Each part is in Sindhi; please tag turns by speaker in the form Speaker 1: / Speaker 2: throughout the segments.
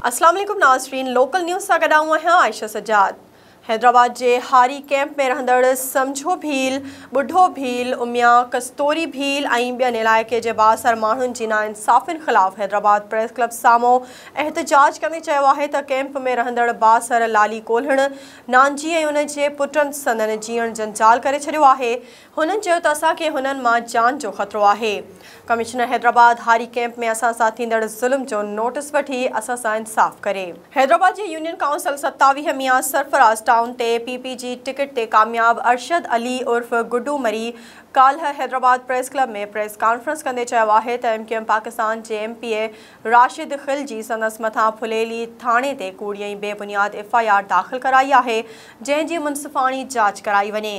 Speaker 1: اسلام عليڪم ناظرين لوڪل نيوز سان گڏ آئون آهيان عائشه سجاد حيدرآباد جي هاري ڪيمپ ۾ رهندڙ سمجهو ڀيل ٻڍو ڀيل اميا ڪستوري ڀيل ۽ ٻين علائقي جي بااثر ماڻهن جي ناانصافين خلاف حيدرآباد پريس ڪلب سامهون احتجاج ڪندي چيو آهي ته ڪئمپ ۾ رهندڙ بااثر لالي ڪولهڻ، نانجي ۽ ان جي پٽن سندن جيئڻ جنجال ڪري ڇڏيو آهي. هنن چيو ته اسان کي هنن مان جان جو خطرو آهي. ڪمشنر حيدرآباد هاري ڪئمپ ۾ اسان سان ٿيندڙ ظلم جو نوٽس وٺي اسان سان انصاف ڪري. حيدرآباد جي يونين ڪائونسل ستاويهه ميان سرفراز ٽائون تي پي پي جي ٽڪيٽ تي ڪامياب ارشد علي عرف گڊو مري ڪالهه Hyderabad press club ۾ press conference ڪندي چيو آهي ته ايم ڪيو ايم پاڪستان جي M P A Rashid Khilji سندس مٿان ڦليلي ٿاڻي تي ڪوڙي ۽ بي بنياد ايف آء آر داخل ڪرائي آهي، جنهن جي منصفاڻي جاچ ڪرائي وڃي.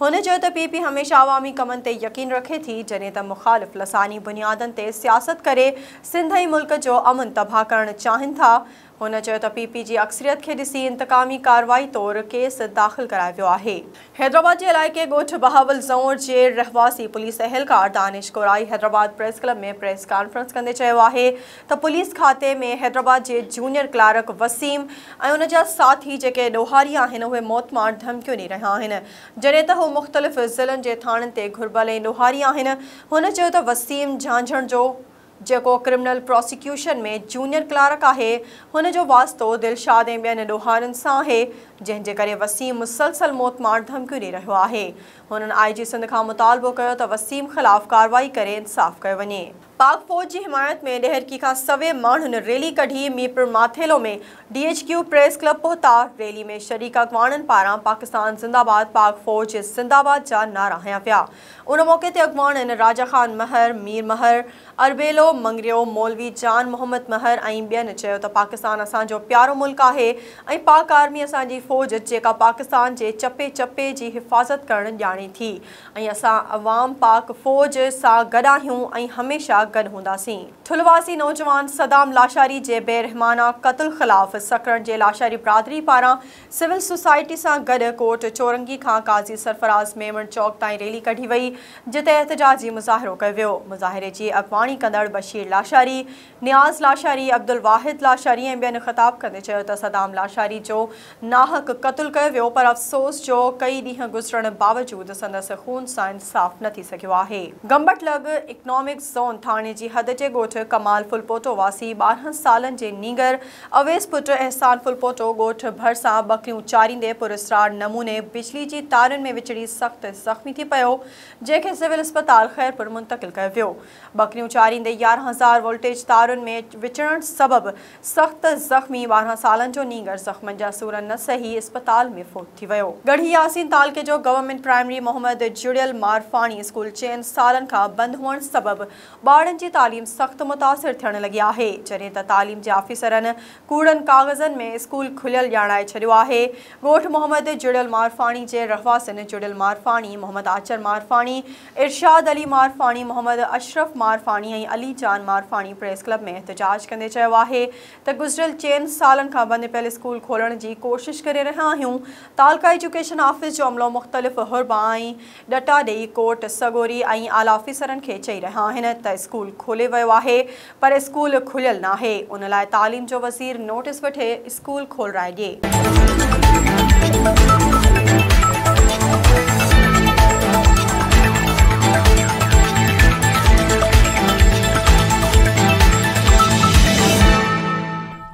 Speaker 1: هن چيو ته پي پي هميشه عوامي ڪمن تي يقين رکي ٿي، جڏهن ته مخالف لساني بنيادن تي سياست ڪري سنڌ ۽ ملڪ جو امن تباهه ڪرڻ چاهين ٿا، هن چيو ته پي پي جي اڪثريت کي ڏسي انتقامي ڪارروائي طور ڪيس داخل ڪرايو ويو آهي. حيدرآباد جي علائقي ڳوٺ بهاول زئونر جي رهواسي پوليس اهلڪار Danish Korai Hyderabad press club ۾ press conference ڪندي چيو آهي ته پوليس کاتي ۾ حيدرآباد جي جونيئر ڪلارڪ وسيم ۽ ان جا ساٿي جيڪي ڏوهاري آهن اهي موتمار ڌمڪيون ڏئي رهيا آهن جڏهن ته هو مختلف ضلعن جي ٿاڻن تي گهربل ۽ ڏوهاري آهن هن چيو ته وسيم جهانجهڻ جو جيڪو ڪرمنل پراسيڪيوشن ۾ جونيئر ڪلارڪ آهي، هن جو واسطو دلشاد ۽ ٻين ڏوهارين سان آهي، جنهن جي ڪري وسيم مسلسل موت مار ڌمڪيون ڏئي رهيو آهي. هنن آء جي سنڌ کان مطالبو ڪيو ته وسيم خلاف ڪارروائي ڪري انصاف ڪيو وڃي. پاڪ فوج جي حمايت ۾ ڏهرڪي کان سوين ماڻهن ريلي ڪڍي Mirpur Mathelo ۾ D H Q press club پهتا، ريلي ۾ شريڪ اڳواڻن پاران پاڪستان زنده باد پاڪ فوج زنده باد جا نعرا هنيا ويا. ان موقعي تي اڳواڻ ان راجا خان مهر، مير مهر، اربيلو، مڱريو، مولوي جان محمد مهر ۽ ٻين چيو ته پاڪستان اسان جو پيارو ملڪ آهي ۽ پاڪ آرمي اسان جي فوج جيڪا پاڪستان جي چپي چپي جي حفاظت ڪرڻ ڄاڻي ٿي ۽ اسان عوام پاڪ فوج سان گڏ آهيون ۽ هميشه گڏ هونداسين. ٺلواسي نوجوان صدام لاشاري جي بي رحمانه قتل خلاف سکرن جي لاشاري برادري پاران سول سوسائٽي سان گڏ ڪوٽ چورنگي کان قاضي سرفراز ميمڻ چوڪ تائين ريلي ڪڍي وئي، جتي احتجاجي مظاهرو ڪيو ويو. مظاهري جي اڳواڻي ڪندڙ بشير لاشاري، نياز لاشاري، عبدالواحد لاشاري ۽ ٻين خطاب ڪندي چيو ته صدام لاشاري جو ناحق قتل ڪيو ويو پر افسوس جو ڪئي ڏينهن گذرڻ باوجود سندس خون سان انصاف نه ٿي سگهيو آهي. گمبٽ لڳ اڪنامڪ زون ٿاڻي جي حد جي ڳوٺ ڪمال ڦلپوٽو واسي ٻارهن سالن جي نينگر اويس پٽ احسان ڦلپوٽو ڳوٺ ڀرسان ٻڪريون چاريندي پراسرار نموني بجلي جي تارن ۾ وچڙي سخت زخمي ٿي پيو، جنهن کي سول اسپتال خيرپور منتقل ڪيو ويو. ٻڪريون چاريندي يارهن هزار وولٽيج تارن ۾ وچڙڻ سبب سخت زخمي ٻارهن سالن جو نينگر زخمن جا سور نه سهي اسپتال ۾ فوت ٿي ويو. ڳڙهي ياسين تعلقي جو گورنمينٽ پرائمري محمد جڙيل مارفاڻي اسڪول چئن سالن کان بند هئڻ سبب ٻارن جي تعليم سخت متاثر ٿيڻ لڳي آهي، جڏهن ته تعليم جي آفيسرن ڪوڙن ڪاغذن ۾ اسڪول کليل ڄاڻائي ڇڏيو آهي. ڳوٺ محمد جڙيل مارفاڻي جي رهواسين جڙيل مارفاڻي، محمد آچر مارفاڻي، ارشاد علي مارفاڻي، محمد اشرف مارفاڻي ۽ علي جان مارفاڻي پريس ڪلب ۾ احتجاج ڪندي چيو آهي ته گذريل چئن سالن کان بند پيل اسڪول کولڻ جي ڪوشش ڪري رهيا آهيون، تعلقه ايجوڪيشن آفيس جو عملو مختلف حربا ۽ ڏٽا ڏئي ڪورٽ سڳوري ۽ اعليٰ آفيسرن کي چئي رهيا آهن ته اسڪول کولي ويو آهي پر اسڪول کليل ناهي ان لاء تعليم جو وزير نوٽيس وٺي اسڪول کولرائي ڏئي.